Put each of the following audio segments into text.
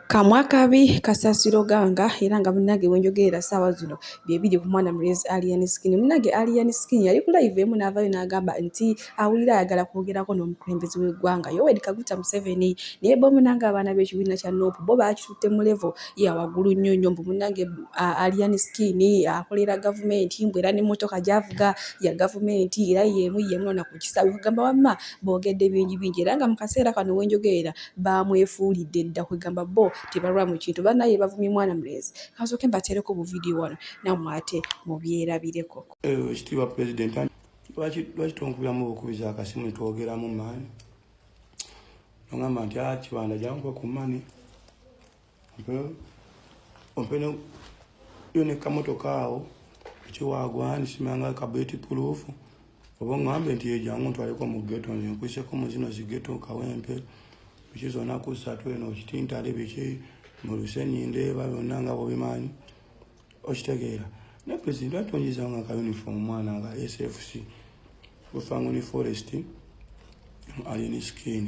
Kamwa kabi kasasiro ganga era nga munange wenjogerera saawa zino byebiri ku mwana mulezi Alien Skin. Munange Alien Skin yali ku live emu n'avaayo n'agamba nti awulira ayagala kwogerako n'omukulembeze w'eggwanga Yoweri Kaguta Museveni naye bo munange abaana b'ekibiina kya Nup bo baakitutte mu levo ya waggulu nnyo nnyo mbu munange Alien Skin akolera gavumenti mbu era n'emmotoka gy'avuga ya gavumenti era y'emu y'emu na ku kisaawe okugamba wamma boogedde bingi bingi era nga mu kaseera kano wenjogerera baamwefuulidde dda kwegamba bo tebalwa mu kintu banaye bavumye mwana mulenzi kansooke mbateereko bu vidiyo wano nammwe ate mubyerabireko ekitiibwa eh, pulezidenti lwaki tonkubiramu bukubiza akasimu netwogeramu maani ogamba nti a ah, kibanda jankuba ku mani ompene yo ne kamotoka awo ekiwagwani simanga kabeti pulufu oba ngambe nti ejangu ntwaleko mu geto nze nkwiseko mu zino zigeto kawempe biki zona kusatu eno okitintale biki mu lusenyi ndeeba byonna nga bobimanyi okitegeera ne president atonyiza nga ka uniform mwana nga sfc gufangoni forest alien skin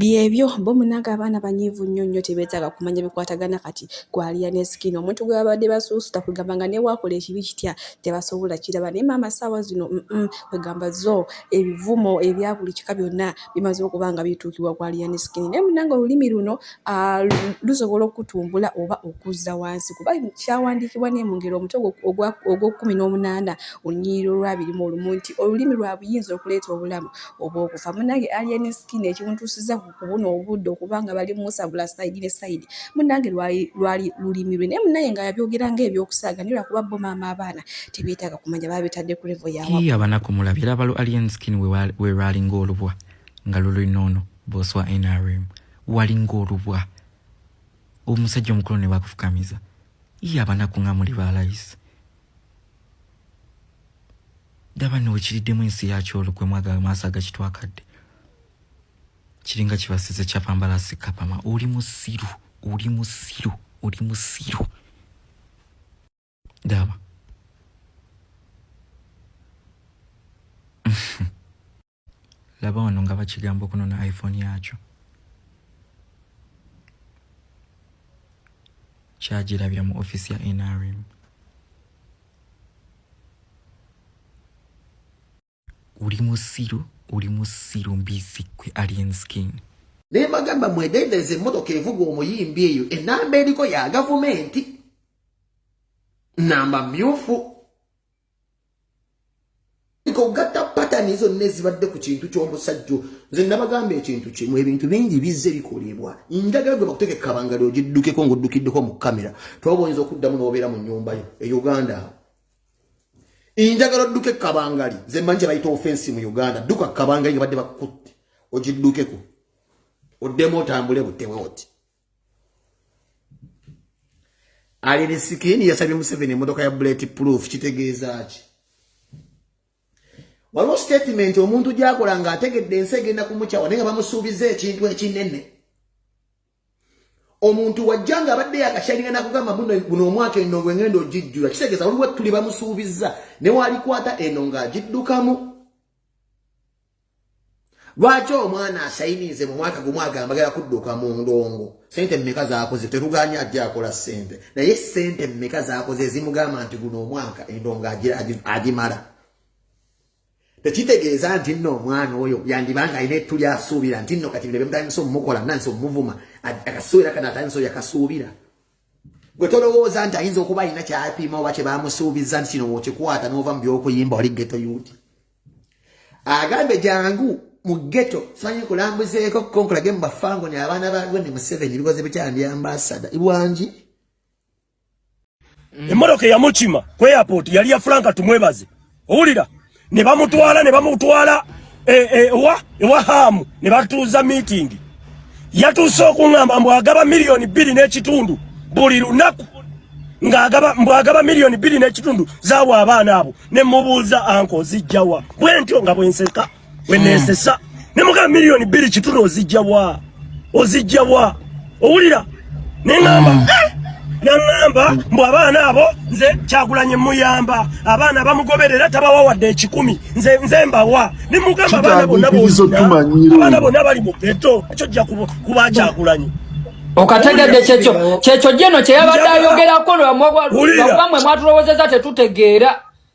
Byebyo bo munange abaana banyiivu nnyo nnyo tebeetaaga kumanya bikwatagana kati kwaliya ne skin omuntu gwe babadde basuusuta kwegamba nga newakola ekibi kitya tebasobola kiraba naye maama saawa zino kwegamba zo ebivumo ebya buli kika byonna bimaze okuba nga bituukibwa kwaliya ne skin naye munange olulimi luno ah, lusobola okutumbula oba okuzza wansi kuba kyawandiikibwa ne mu ngeri omuto ogw'okkumi n'omunaana olunyiriro olwabirimu olumu nti olulimi lwa buyinza okuleeta obulamu obwokufa munange alien skin ekimutusiza kukubuna obudde okubanga bali musabula side ne side munange lwali lulimirwe naye munaye nga yabyogera nga ebyokusaaga naye lwakuba bo maama abaana tebetaaga kumanya babitadde ku levo yawa iye abanaku mulabi era balo alien skin we lwalinga olubwa nga luli noono boswa nrm walinga olubwa omusajja omukulu ne bakufukamiza iye abanaku nga muli balayisi ndaba nno wekiriddemu ensi yakyo olukwe mwagala maaso agakitwakadde kiringa kibasize kyapambala sikapama oli musiru oli musiru oli musiru ndaba laba wano nga bakigamba okunona iphone yakyo kyagirabira mu office ya nrm uli musiru uli musiru mbisi kwe alien skin naye bagamba mwegendereza emmotoka evuga omuyimbi eyo enamba eriko ya gavumenti namba myufu ogatta patani zonna ezibadde ku kintu ky'omusajja nze nabagamba ekintu kimu ebintu bingi bizze bikolebwa njagala gwe bakuteke kabanga lyo giddukeko ng'oddukiddeko mu kamera twaba oyinza okuddamu n'obeera mu nnyumba yo e uganda awo njagala odduke kabangali nze mmanyi kye bayita ofensi mu uganda dduka kabangali nga badde bakukutte ogiddukeko oddemu otambule butewe oti ali lisikini yasabye museveni emotoka ya bullet proof kitegeeza ki waliwo statement omuntu gyakola nga ategedde ensi egenda kumukyawa naye nga bamusuubiza ekintu ekinene omuntu wajja nga abadde yakakyalira nakugamba buno omwaka eno gwengenda ogijjula kitegeeza waliwo tuli bamusuubiza newalikwata eno ng'agiddukamu lwaki omwana asayininze mu mwaka gumu agamba gala kudduka mu ndongo sente mmeka zakoze tetuganye ajja akola sente naye sente mmeka zakoze ezimugamba nti guno omwaka endongo agimala tekitegeeza nti nno omwana oyo yandibanga alina ettu lyasuubira nti nno kati bino bemutandisa omumukola nansi omumuvuma akasuubira kana atandisa oyo akasuubira gwe tolowooza nti ayinza okuba alina kyapiima oba kyebamusuubiza nti kino wokikwata n'ova mu byokuyimba oli geto yuti agambe jangu mu ghetto fanye kulambuzeeko kukonkolage mu bafango ne abaana baliwo ne museveni ebigozi bikyandi ambasada iwangi mm. emmotoka eyamukima ku airport yali ya franka tumwebaze owulira ne bamutwala ne bamutwala eh, eh, ewa ewa haamu ne batuuza miitingi yatuuse okuŋŋamba mbu agaba miliyoni bbiri n'ekitundu buli lunaku ng'agaba mbu agaba miliyoni bbiri n'ekitundu zaawa abaana abo ne mubuuza anka ozijjawa bwe ntyo nga bwenseka bwe hmm. neesesa ne mugaba miliyoni bbiri kitundu ozijjawa ozijjawa owulira ne ngamba hmm. eh! nangamba mbu abaana abo nze kyagulanye muyamba abaana bamugoberera tabawa wadde ekikumi nze nze mbawa nimugamba abaana bonna abaana bonna bali mu peto ekyo jja kuba kyagulanye okategedde kyekyo kyekyo jeno kyeyabadde ayogerako lwamwe mwatulowozeza tetutegeera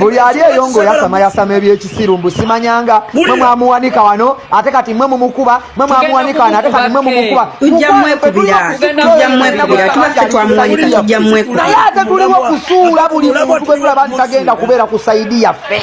buli ali eyo nga oyasamayasama ebyekisiru mbu simanyanga mwe mwamuwanika wano ate kati mwe mumukuba mwe mwamuwanika wano ate kati mwe mumukuba naye ate tuliwo kusuula buli muntu bwetulaba nti tagenda kubeera ku saidi yaffe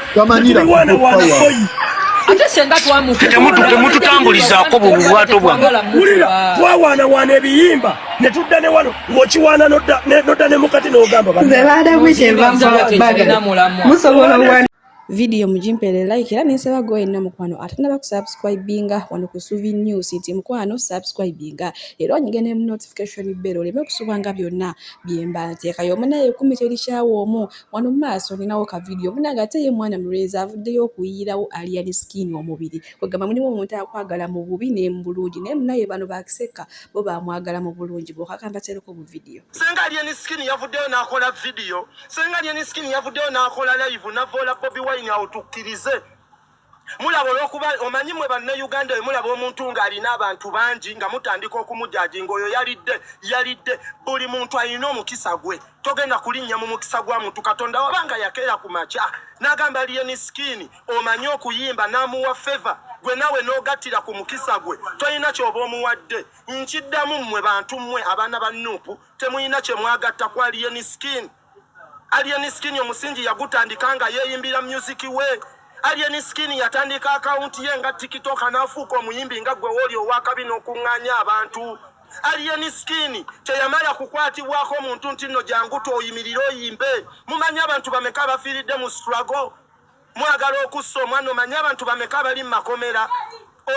Tamanyira wana wana boy. Ate senga twamu. Tete mutu tete mutu tambuliza ko bubwato bwa. Mulira kwa wana wana ebiyimba. Ne tudda ne wano. Wochi wana no da ne no da ne mukati no gamba ba. Zebada bwije bamba baga. Musobola wana. Video mujimpele like era nensaba gwe yenna mukwano atanaba ku subscribinga wano ku Suvi News nti mukwano subscribinga era onyige ne notification bell oleme okusubanga byonna byemba nteekayo munaye kumi teri kyawo omu Wano mu maaso ninawo ka video munange ate ye mwana mulwezi avuddeyo okuyiirawo Alien Skin omubiri kwegamba mulimu omuntu akwagala mu bubi ne mu bulungi naye munaye bano ba Kisekka bo bamwagala mu bulungi bwoka kambatereko bu video. Senga Alien Skin yavuddeyo nakola video Senga Alien Skin yavuddeyo nakola live navoola Bobi Wine awo tukkirize mulaba olwokuba omanyi mwe bannayuganda oyo mulaba omuntu ng'alina abantu bangi nga mutandika okumujaji ngaoyo yalidde yalidde buli muntu alina omukisa gwe togenda kulinnya mu mukisa gwa muntu katonda waba nga yakeera ku makya n'agamba liyeni sikiini omanyi okuyimba n'amuwa feva gwe nawe n'ogattira ku mukisa gwe tolina kyoba omuwadde nkiddamu mmwe bantu mmwe abaana ba nuupu temulina kye mwagatta kwa liyeni sikiini Alien Skin omusingi yagutandika nga yeeyimbira myuziki we. Alien Skin yatandika akawunti ye nga TikTok anaafuuka omuyimbi nga gwe wooli ow'akabi n'okuŋŋaanya abantu. Alien Skin teyamala kukwatibwako omuntu nti nno jangu tooyimirire oyimbe. Mumanyi abantu bameka abafiiridde mu situlago? Mwagala okussa omwana omanyi abantu bameka abali mu makomera?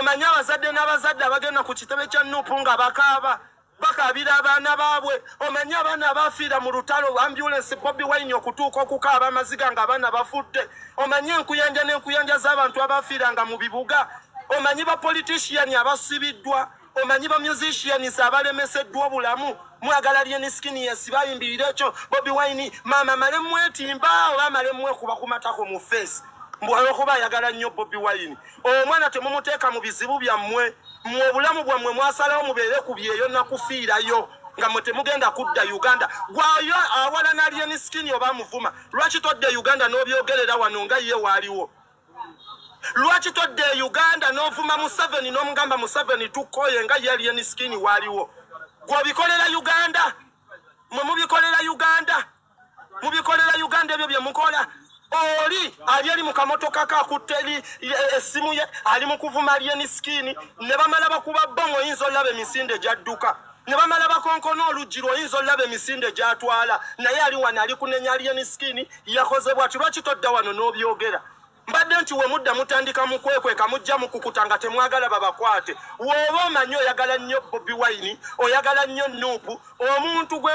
Omanyi abazadde n'abazadde abagenda ku kitebe kya Nuupu nga bakaaba? bakabira abaana baabwe omanyi abaana abaafiira mu lutalo ambulensi bobi wine okutuuka okukaaba amaziga nga abaana bafudde omanyi enkuyanja n'enkuyanja z'abantu abaafiiranga mu bibuga omanyi bapolitishiyani abasibiddwa omanyi bamusicians abalemeseddwa obulamu mwagala lyenisikini yesi bayimbirira ekyo bobi wine maama male mwetimba oba male mwekuba ku matako mu feesi mbu olwokuba ayagala nnyo bobi wine omwana temumuteeka mu bizibu byammwe mwe obulamu bwammwe mwasalawo mubeere ku byeyo nakufiirayo nga mwe temugenda kudda uganda gwayo awala nalyeni skin oba muvuma lwaki todda e uganda n'obyogerera wano nga ye waaliwo lwaki todda e uganda n'ovuma museveni n'omugamba museveni tukoye nga ye alyeni skin waaliwo gwobikolera uganda mwe mubikolera uganda mubikolera uganda ebyo byemukola oli ali eri mu kamotoka kakutte essimu ye ali mu kuvuma ali eni sikini ne bamala bakuba bomu oyinza olaba emisinde gyadduka ne bamala bakonkona oluggi lwoyinza olulaba emisinde gyatwala naye ali wano ali kunenya aliyeni sikini yakoze bwati lwaki todda wano n'obyogera mbadde nti we mudda mutandika mukwekweka mujja mukukuta nga temwagala babakwate wooba omanyi oyagala nnyo bobi wayini oyagala nnyo nuupu omuntu gwe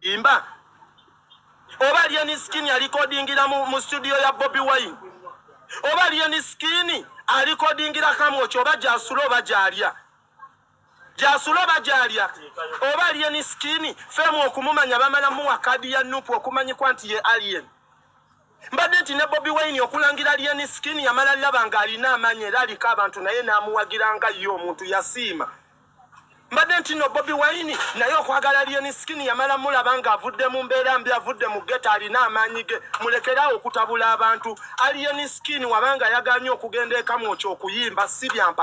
imba oba alien skin alikodingira mu, mu studio ya bobi wine oba alien skin alikodingira kamwoki oba gyasula oba gyalya gyasula oba gyalya oba alien skin femu okumumanya bamala muwa kadi ya nupu okumanyikwa nti ye alien mbadde nti ne bobi wine okulangira alien skin yamala laba nga alina amanya era aliko abantu naye namuwagiranga ye omuntu yasiima mbadde nti no bobi wayini naye okwagala lyeni sikini yamala mulaba nga avudde mu mbeera mbi avudde mu geta alina amaanyi ge mulekeraawo okutabula abantu aliyeni sikini wabanga yaganye okugenda ekamu okyo okuyimba si byampa